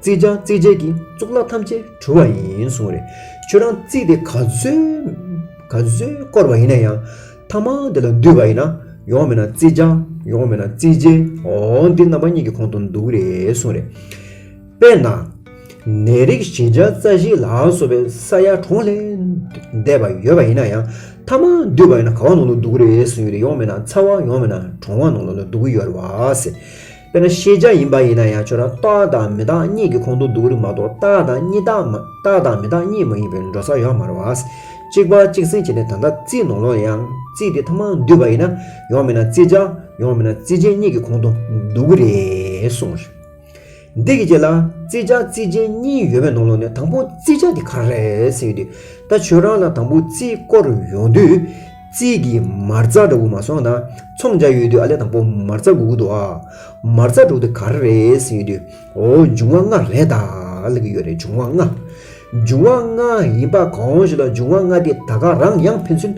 བརྩིས་ཀྱང་བརྩིས་བྱས་ཀྱི་གཙུག་ལག་ཐམས་ཅད་འཁྲུལ་བ་ཡིན་གསུངས་རེད། ཁྱོད་རང་བརྩིས་ཏེ་ག་ཚོད་བསྐོར་བ་ཡིན་ན་ཡང། ཐ་མང་དེ་ལ་འདུས་པ་ཡིན་ན། ཡོང་མེད་ན་བརྩིས་ཀྱང་ཡོང་མེད་ན་བརྩིས་བྱས་འོ་འདི་རྣམ་པ་གཉིས་ཀྱི་གོང་དུ་འདུག་རེད་གསུངས་རེད། དཔེར་ན། ནད་རིགས་བཞི་བརྒྱ་རྩ་བཞི་ལ་སོགས་པའི་ས་ཡ་གྲོང་ལས་འདས་པ་ཡོད་པ་ཡིན་ན་ཡང། ཐ་མང་འདུས་པ་ཡིན་ན་ག་བ་ནང་དུ་འདུག་རེད་གསུངས་ཡོད་རེད་ཡོང་མེད་ན་ཚ་བ་ཡོང་མེད་ན་གྲང་བ་ནང་ལ་འདུག་གི་ཡོད་རེད་བ། དཔེར་ན་ཤེས་བྱ་ཡིན་པ་ཡིན་ན་ཡང་ཁྱོད་རང་རྟག་དང་མི་རྟག་གཉིས་ཀྱི་ཁོང་དུ་འདུག་རིགས་མ་གཏོགས་རྟག་དང་མྱི་རྟག་མ་རྟག་དང་མི་རྟག་གཉིས་མ་ཡིན་པའི་འགྲོ་ས་ཡོག་མ་རེད། གཅིག་པ་གཅིག་ཟིན་བྱས་ནས་ད་ལྟ་རྩིས་ནོར་ལོག་ཡང་རྩིས་དེ་ཐ་མང་འདུས་པ་ཡིན་ན་ཡོག་མིན་ན་རྩིས་བྱ་ཡོག་མིན་ན་རྩིས་ཅན་གཉིས་ཀྱི་ཁོང་དུ་འདུག་གི་རེད་གསུངས་རེད། འདི་གི་རྗེས་ལ་རྩིས་བྱ་རྩིས་ཅན་གཉིས་ཡོད་པའི་ནོར་ལོག་ནས་དང་པོ་རྩིས་བྱ་དེ་ག་རེད་ཟེར་གྱི་འདུག་ད་ཁྱོད་རང་ལ་དང་པོ་རྩིས་སྐོར་ཡོང་དུས། རྩིས་ཀྱི་མར་རྩ་འདྲ་བོ་མ་སོང་ན་ཚོང་བྱ་ཡོད་དུས་ཨ་ལེ་དང་པོ་མར་རྩ་དགོས་ཀྱི་འདུག་ཨ། མར་རྩ་འགྲོ་དུས་ག་རེ་རེད་ཟེར་ཡོད་དུས་འོ་འབྱུང་བ་ལྔ་རེད་ད་ལ་གི་ཡོད་རེད་འབྱུང་བ་ལྔ། འབྱུང་བ་ལྔ་ཡིན་པ་གང་ཞིག་ལ་འབྱུང་བ་ལྔ་དེ་ད་ག་རང་ཡང་ཕན་ཚུན་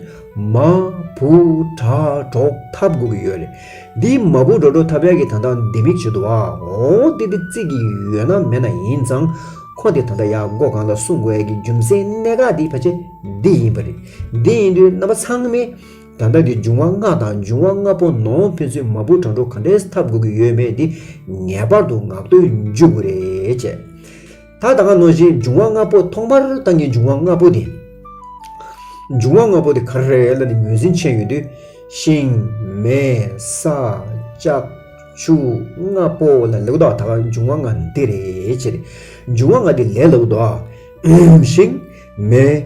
མ་བུ་དྲ་གྲོགས་འཐབ་དགོས་ཀྱི་ཡོད་རེད། འདིའི་མ་བུ་དྲ་གྲོགས་འཐབ་ཡག་གི་ད་ལྟ་ལྡེ་མིག་བྱེད་འདུག་ཨ་འོ་དེ་དེ་རྩིས་ཀྱི་ཡོད་ན་མེད་ན་ཡིན་ཙང་ཁོ་དེ་ད་ལྟ་ཡག་སྒོ་གང་ལ་སྲུང་དགོས་ཡག་གི་རྒྱུ་མཚན་གནད་འགག་དེ་ཕལ་ཆེར་འདི་ཡིན་པ་རེད། འདི་ཡིན་དུས་རྣམ་པ་ཚང་མས་ད་ལྟ་གི་འབྱུང་བ་ལྔ་དང་འབྱུང་བ་ལྔ་པོ་ནང་ཕན་ཚུན་མ་བུ་དྲང་གྲོགས་ག་འདྲའི་འཐབ་དགོས་ཀྱི་ཡོད་མེད་འདི་ངེས་པར་དུ་ངག་བརྟོལ་འཇུག་དགོས་རེད་ཅེས། ད་ད་ག་ནོ་བཞིན་འབྱུང་བ་ལྔ་པོ་ཐོག་མར་ད་ངའི་འབྱུང་བ་ལྔ་པོ་དེ། འབྱུང་བ་ལྔ་པོ་དེ་ག་རེད་ལ་ནི་ངོས་ཟིན་ཆེན་ཡོད་དུས། ཤིང། མེ། ས། ལྕགས། ཆུ། ལྔ་པོ་ལ་ལེའུ་དག་ད་ག་འབྱུང་བ་ལྔ་འདི་རེད་ཅེས། འབྱུང་བ་ལྔ་འདི་ལས་ལེའུ་དག། ཤིང། མེ།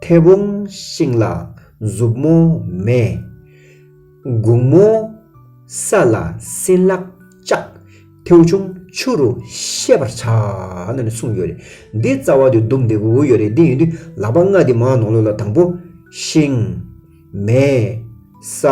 མཐེ་བོང་ཤིང་ལ་མཛུབ་མོ་མེ། གུང་མོ་ས་ལ་སྲིན་ལག་ལྕགས། མཐེའུ་ཆུང་ཆུ་རུ་ཤེས་པར་བྱ། ནས་གསུངས་ཡོད་རེད། འདི་རྩ་བ་དུས་བསྡོམས་འདེབས་འོས་ཡོད་རེད་འདི་ཡིན་དུས་ལག་པ་ལྔ་འདི་མང་ནོག་ལོ་ལ་དང་པོ། ཤིང། མེ། ས།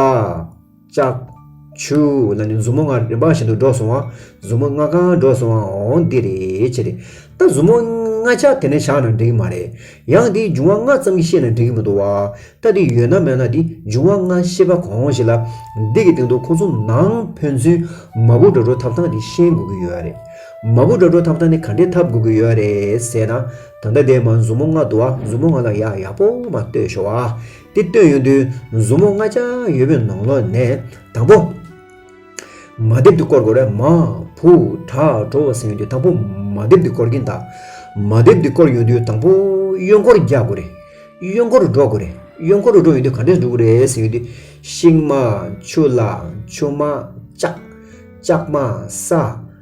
ལྕགས། ཆུ། ལ་ནི་མཛུབ་མོ་ལྔ་རིམ་པ་བཞིན་དུ་འགྲོ་སོང་བ། མཛུབ་མོ་ལྔ་གང་འགྲོ་སོང་བའང་འདི་རེད་ཅེས་རེད། ད་མཛུབ་མོ་ལྔ་ཆ་དེ་ནས་བཞག་ན་འགྲིག་གི་མ་རེད། ཡང་འདིའི་འབྱུང་བ་ལྔ་ཙམ་གྱིས་ཤེས་ན་འགྲིག་གི་མི་འདུག་བ། ད་འདི་ཡོད་ན་མེད་ན་འདི་འབྱུང་བ་ལྔ་ཤེས་པ་གང་ཞིག་ལ། འདི་གི་སྟེང་དུ་ཁོང་ཚོ་ནང་ཕན་ཚུན་མ་བུ་འདྲ་འགྲོ་ཐབས་སྟངས་འདི་ཤེས་དགོས་ཀྱི་ཡོད་རེད། མ་བུ་འདྲ་འགྲོ་ཐབས་སྟངས་འདི་ག་འདྲའི་ཐབས་དགོས་ཀྱི་ཡོད་རེད་ཟེར་ན། ད་ལྟ་འདས་མ་མཛུབ་མོ་ལྔ་འདུག་བ་མཛུབ་མོ་ལྔ་ལ་ཡག་ཡག་པོ་མ་ལྟོས་ཤོག་བ། དེ་བཏོན་ཡོང་དུས་མཛུབ་མོ་ལྔ་ཆགས་ཡོད་པའི་ནང་ལོགས་ནས་དང་པོ། མ་རྡེབ་ཏུ་བསྐོར་དགོས་རེད་མ། བུ། དྲག་གྲོ་བོ་ཟིན་ཡོང་དུས་དང་པོ་མ་རྡེབ་ཏུ་བསྐོར་གྱིན་གདའ། མ་རྡེབ་ཏུ་བསྐོར་ཡོང་དུས་དང་པོ་གཡོན་སྐོར་རྒྱག་དགོས་རེད། གཡོན་སྐོར་རུ་འགྲོ་དགོས་རེད། གཡོན་སྐོར་རུ་འགྲོ་ཡོང་དུས་ག་འདྲས་འགྲོ་གི་རེད་ཟིན་ཡོང་དུས། ཤིང་མ། ཆུ་ལ། ཆུ་མ། ལྕགས། ལྕགས་མ། ས།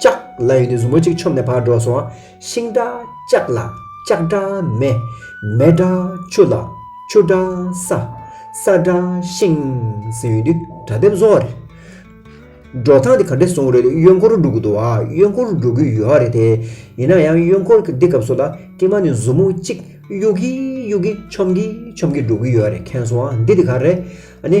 ལྕགས་ལ་ཡོད་དེ་གཟུགས་མོ་གཅིག་ཆོམ་ནས་བར་འགྲོ་སོང། ཤིང་འདྲ་ལྕགས་ལ་ལྕགས་འདྲ་མེ། མེ་འདྲ་ཆུ་ལ་ཆུ་འདྲ་ས། ས་འདྲ་ཤིང་ཟེར་ཡོད་དུས་དགྲ་ལྡེམ་བཟོ་བ་རེད། འགྲོ་སྟངས་དེ་ག་འདྲས་སོང་རེད་དུས་གཡོན་སྐོར་འགྲོ་གི་འདུག་ཨ་གཡོན་སྐོར་འགྲོ་གི་ཡོད་རེད་དེ། ཡིན་ན་ཡང་གཡོན་སྐོར་གི་འདི་སྐབས་སུ་ལ་ཀྱེ་མ་ནི་གཟུགས་མོ་གཅིག་གཡུག་གི་གཡུག་གི་ཆོམ་གི་ཆོམ་གི་འགྲོ་གི་ཡོད་རེད་མཁན་སོང་ཨ་འདི་དེ་ག་རེད་ཨ་ནི།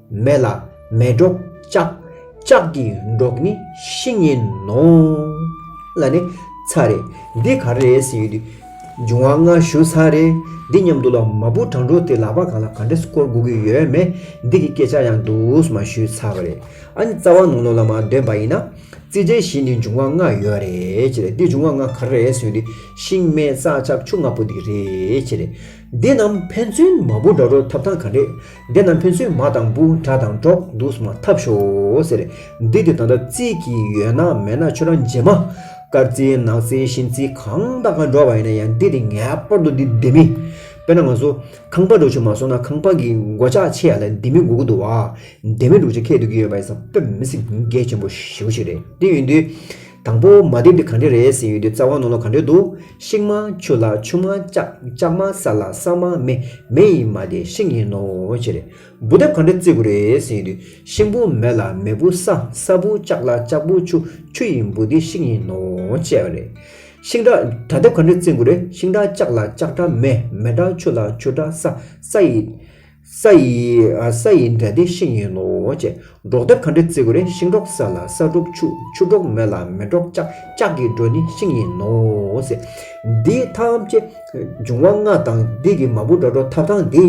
མེ་ལ་མེ་སྒྲོག་ལྕགས། ལྕགས་ཀྱི་སྒྲོག་ནི་བཤེས་གཉེན་ནོ། ལ་ནི་ཚ་རེ། འདི་ག་རེ་ཟེར་ཡོད་དུས། འབྱུང་བ་སྔ་ཞུ་ཚ་རེ། འདི་སྙམ་དུ་ལ་མ་བུ་གྲང་དྲོ་དེ་ལག་པ་གང་ལ་ག་འདྲས་བསྐོར་དགོས་ཀྱི་ཡོད་མེད་འདི་གི་སྐད་ཆ་ཡང་དུས་མ་ཞུས་ཚ་བ་རེད། ཨ་ནི་རྩ་བ་ནོར་ནོར་ལ་མ་འདོན་པ་ཡིན་ན། རྩིས་འགྲེལ་བཞི་ནི་འབྱུང་བ་ལྔ་ཡོད་རེད་ཅེས་རེད་འདི་འབྱུང་བ་ལྔ་ག་རེ་ཟེར་ཡོད་དུས་ཤིང་སྨད་རྩ་ལྕགས་ཆུ་ལྔ་པོ་འདི་རེད་ཅེས་རེད། འདི་རྣམས་ཕན་ཚུན་མ་བུ་འདྲ་འགྲོགས་ཐབས་དང་ག་འདྲེ། འདི་རྣམས་ཕན་ཚུན་མ་དང་བུ་འདྲ་དང་འགྲོགས་འདུག་སྨྲ་ཐབས་ཤོག་ཟེར། འདི་དེ་ད་ལྟ་རྩིས་ཀྱི་ཡོད་ན་མེད་ན་ཁྱོད་རང་རྗེས་མ། དཀར་རྩིས་ནག་རྩིས་ཤིང་རྩིས་གང་དང་ག་འགྲོགས་པ་ཡིན་ན་ཡང་འདི་དེ་ངེས་པར་དུ་འདི་འདི་མི། དཔེར་ན་ང་ཚོ་ཁང་པ་འགྲོ་ཆུ་མ་སོང་ན་ཁང་པ་གི་མགོ་ལྕགས་ཕྱེ་ཡ་ལ་འདི་མི་དགོས་ཀྱི་འདུག་བ། འདི་མི་འགྲོ་ཆུ་ཁད་འདུག་གི་ཡོད་པ་ཡིན་ས་དཔེར་མི་སེམས་འགད་ཆེན་པོ་ཞེ་བོ་ཞིག་རེད་དེ་ཡོད་དུས། དང་པོ་མ་བསྡེབས་དེ་གང་འདྲས་རེད་ཟེར་ཡོད་དུས་རྩ་བ་ནོར་ལོག་གང་འདྲས་འདུག་ཤིང་མང་ཆུ་ལ་ཆུ་མང་ལྕགས་ལྕགས་མང་ས་ལ་ས་མང་མེ་མེ་ཡིན་མ་དེ་ཤིང་ཡིན་ནོ་ཅི་རེད་འབུ་བསྡེབས་གང་འདྲས་བརྩི་དགོས་རེད་ཟེར་ཡོད་དུས་ཤིང་འབུ་མེ་ལ་མེ་འབུ་ས་ས་འབུ་ལྕགས་ལ་ལྕགས་འབུ་ཆུ་ཆུ་ཡིན་འབུ་དེ་ཤིང་ཡིན་ནོ་ཅེས་པ་རེད། ཤིང་འདྲ་དགྲ་བསྡེབས་གང་འདྲས་བརྩི་དགོས་རེད་ཤིང་འདྲ་ལྕགས་ལ་ལྕགས་འདྲ་མེ་མེ་འདྲ་ཆུ་ལ་ཆུ་འདྲ་ས་ས་ཡིན། ས་ཡིས་ས་ཡི་འདྲ་སྟེ་ཤིང་ཡིན་ནོ། འབྲོག་སྡེ་གངས་རི་རྩེ་གུར་རེ་ཤིང་འབྲོག་ས་ལ་ས་འབྲོག་ཆུ་ཆུ་འབྲོག་མེ་ལ་མེ་འབྲོག་ལྕགས་ལྕགས་ཀྱི་འབྲོག་ནི་ཤིང་ཡིན་ནོ། འདིའི་ཐམས་ཅད་འབྱུང་བ་ལྔ་དང་སྡེ་དགེ་མ་བུ་འགྲོ་འགྲོ་ཐབས་དང་འདི་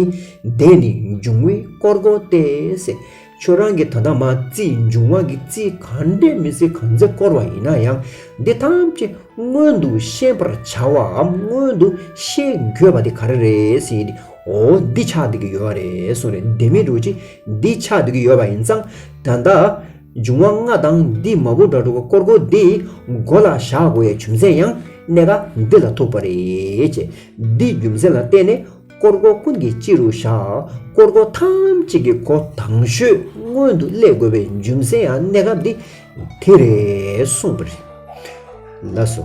འདི་ནི་འབྱུང་བའི་དཀོར་སྒོ་སྟེ། ཁྱོད་རང་གིས་ད་ལྟ་མ་རྩིས་འབྱུང་བ་གི་རྩིས་ག་འདྲའི་མི་ཚེ་གང་ཚེ་བསྐོར་བ་ཡིན་ན་ཡང་འདི་ཐམས་ཅད་སྔོན་དུ་ཤེས་པར་བྱ་བའམ་སྔོན་དུ་ཤེས་དགོས་པ་དེ་ག་རེ་རེད་ཟེར་ཏེ་འོ་འདི་ཆགས་འདུག་གི་ཡོད་རེད་གསུངས་རེད་བདེན་མི་འགྲོ་ཅི་འདི་ཆགས་འདུག་གི་ཡོད་པ་ཡིན་ཙང་ད་ལྟ་འབྱུང་བ་ལྔ་དང་འདི་མ་བུ་དགྲ་དྲུག་དཀོར་དགུ་འདི་མགོ་ལ་བཞག་དགོས་ཡ་བྱུང་ཚེ་ཡང་གནད་ཀ་འདི་ལ་ཐུག་པ་རེད་ཅེས་འདི་རྒྱུ་མཚན་ལ་བརྟེན་ནས་དཀོར་སྒོ་ཀུན་གྱི་སྤྱི་རུ་བཞག། དཀོར་སྒོ་ཐམས་ཅད་ཀྱི་སྒོ་དང་ཤོས་སྔོན་དུ་སླེ་དགོས་པའི་རྒྱུ་མཚན་ཡང་གནས་སྐབས་འདི་དེ་རེད་གསུངས་པ་རེད། ལ་སོ།